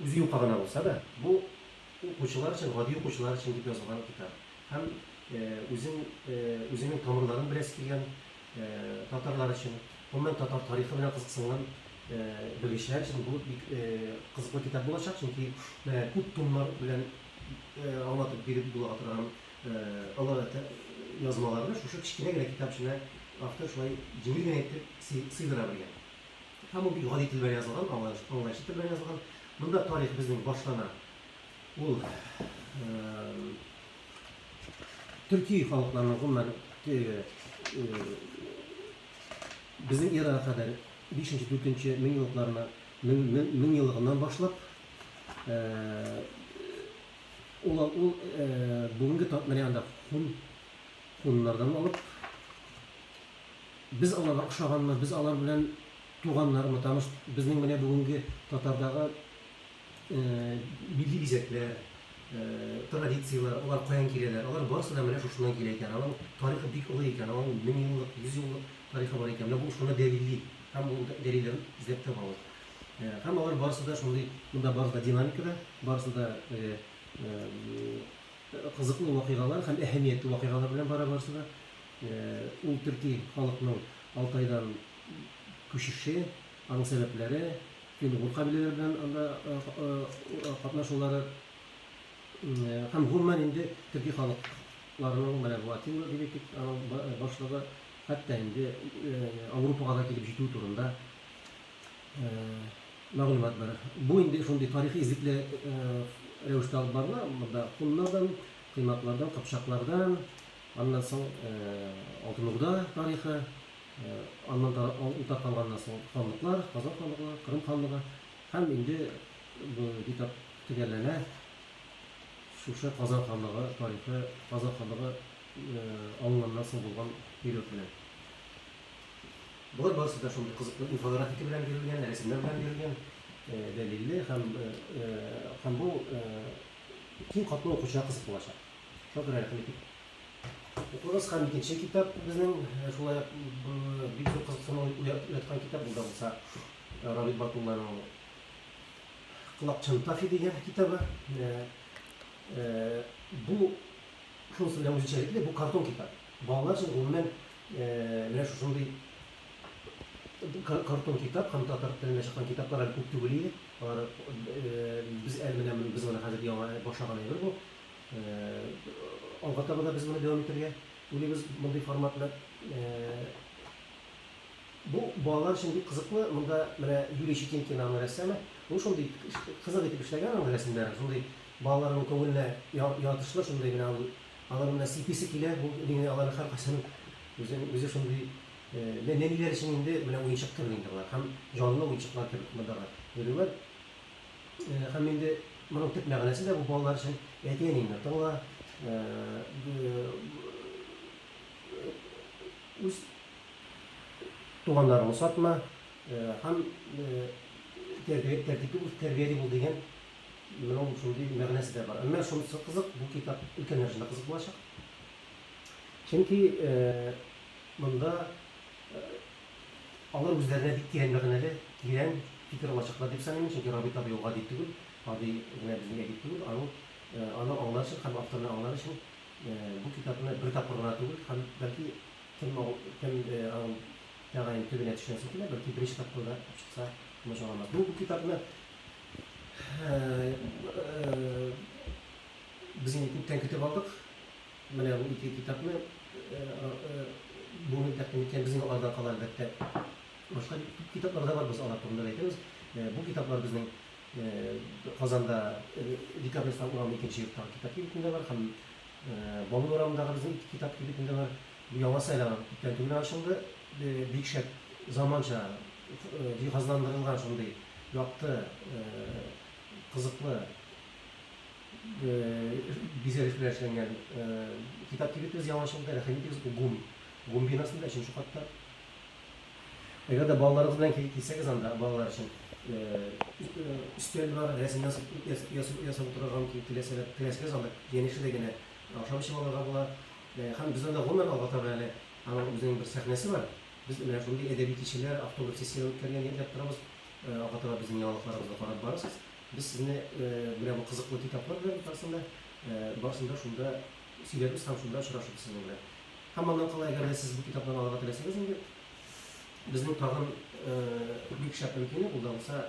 Үзе юка гына булса да, бу укучылар өчен, гади укучылар өчен дип язылган китап. Һәм үзен, үзенең тамырларын беләсе килгән татарлар өчен, гомумән татар тарихы белән кызыксынган белгечләр өчен бу бик кызыклы китап булачак, чөнки менә күп томнар белән аңлатып биреп була торган олы язмаларны шушы кечкенә генә китап эченә автор шулай җиңел генә итеп сыйдыра белгән. Һәм ул бик гади тел белән язылган, аңлаешлы тел белән язылган. Монда тарих безнең башлана. Ул төрки халыкларның гомумән безнең эрага кадәр 5-4 мең еллыкларына мең еллыгыннан башлап ул ул бүгенге менә анда хун хуннардан алып Без аларга ошаганмы, без алар белән туганнармы, таныш, безнең менә бүгенге татардагы милли бизәкләр, традицияләр, алар каян киләләр, алар барысы да менә шушыннан килә икән, аның тарихы бик олы икән, аның меңьеллык, йөзьеллык тарихы бар икән, менә бу шуны дәлилли һәм ул дәлилләрен эзләп табабыз. Һәм алар барысы да шундый, монда барысы да динамикада, барысы да кызыклы вакыйгалар һәм әһәмиятле вакыйгалар белән бара барысы да. Ул төрки халыкның Алтайдан күчеше, аның сәбәпләре, фин-угур кабиләләре белән анда катнашулары һәм гомумән инде төрки халыкларның менә бу Атилла дип әйтик, аның башлыгы, хәтта инде Аурупага да килеп җитүе турында мәгълүмат бар. Бу инде шундый тарихи эзлекле рәвештә алып барыла, монда һуннардан, кыйматлардан, кыпчаклардан, Аннан соң Алтын Урда тарихы, аннан утап калганнан соң ханлыклар, Казан ханлыгы, Кырым ханлыгы һәм инде бу китап төгәлләнә, шушы Казан ханлыгы тарихы, Казан ханлыгы алынганнан соң булган период белән. Болар барысы да шундый кызыклы инфографика белән бирелгән, рәсемнәр белән бирелгән, дәлилле һәм һәм бу киң катлау укучыга кызык булачак. Шагыйрә кайтып. Укыгыз һәм икенче китап безнең шулай бик зур кызыксыну уяткан китап булды булса Равил Батулланың Колак Чантафи дигән китабы. Бу шунысы белән үзенчәлекле, бу картон китап. Балалар өчен гомумән менә шушындый картон китап һәм татар телендә чыккан китаплар әле күп түгел иде. Алар без әле менә без моны хәзер яңа башланган әйбер бу. Алга таба да без моны дәвам итәргә уйлыйбыз, мондый форматны. Бу балалар өчен бик кызыклы. Монда менә Юрий Щетинкин аның рәссамы. Ул шундый кызык итеп эшләгән аның рәсемнәрен. Шундый балаларның күңеленә ятышлы, шундый менә ул алар менә сиписе килә. Бу инде аларның һәркайсының үзен үзе шундый нәниләр өчен инде менә уенчык кебек инде болар. Һәм җанлы уенчыклар кебек монда да йөриләр. Һәм инде моның төп мәгънәсе дә бу балалар өчен, әти-әниеңне тыңла, үз туганнарыңны сатма һәм тәртипле үз тәрбияли бул дигән моның шундый мәгънәсе дә бар. Әмма шунысы кызык, бу китап өлкәннәр өчен дә кызык булачак. Чөнки монда Алар үзләренә бик тирән мәгънәле, тирән фикер алачаклар дип саныйм мин, чөнки Рабит абый ул гади түгел, гади генә безнең әдип түгел, аның аны аңлар өчен һәм авторны аңлар өчен бу китапны бер тапкыр гына түгел һәм бәлки кем кем аның тәгаен төбенә төшенәсе килә, бәлки беренче тапкыр да ачыкса комачауламас. Бу бу китапны без инде күптән көтеп алдык. Менә бу ике китапны бүген тәкъдим иткән безнең алдан кала, әлбәттә, башка күп китаплар да бар, без алар турында да әйтәбез. Бу китаплар безнең Казанда Декабрьстан урамы икенче йорттагы китап кибетендә бар һәм Баулы урамындагы безнең китап кибетендә бар. Бу яңасы әле аңа күптән түгел генә ачылды. Бик шәп, заманча җиһазландырылган шундый якты, кызыклы. Бизәлеш белән эшләнгән китап кибетебез яңачылды, рәхим итегез, ГУМ, ГУМ бинасында, өченче катта. Әгәр дә балаларыгыз белән килсәгез анда, балалар өчен өстәл бар, рәсем ясап утырырга мөмкин, теләсәгез анда янәшәдә генә ашап эчеп алырга була. Һәм без анда гомумән алга таба әле аның үзенең бер сәхнәсе бар. Без менә шундый әдәби кичәләр, автограф сессияләре үткәргән итеп торабыз. Алга таба безнең яңалыкларыбызны карап барырсыз. Без сезне менә бу кызыклы китаплар белән барысын да, барысын да шунда сөйләрбез һәм шунда очрашырбыз сезнең белән. Һәм аннан кала, әгәр дә сез бу китапларны алырга теләсәгез инде, безнең тагын бик шәп мөмкинлек, ул да булса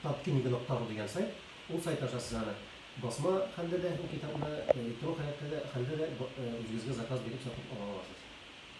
Tatkniga нокта ру дигән сайт. Ул сайт аша сез аны басма хәлдә дә бу китапны, электрон халәттә дә хәлдә дә үзегезгә заказ биреп сатып ала аласыз.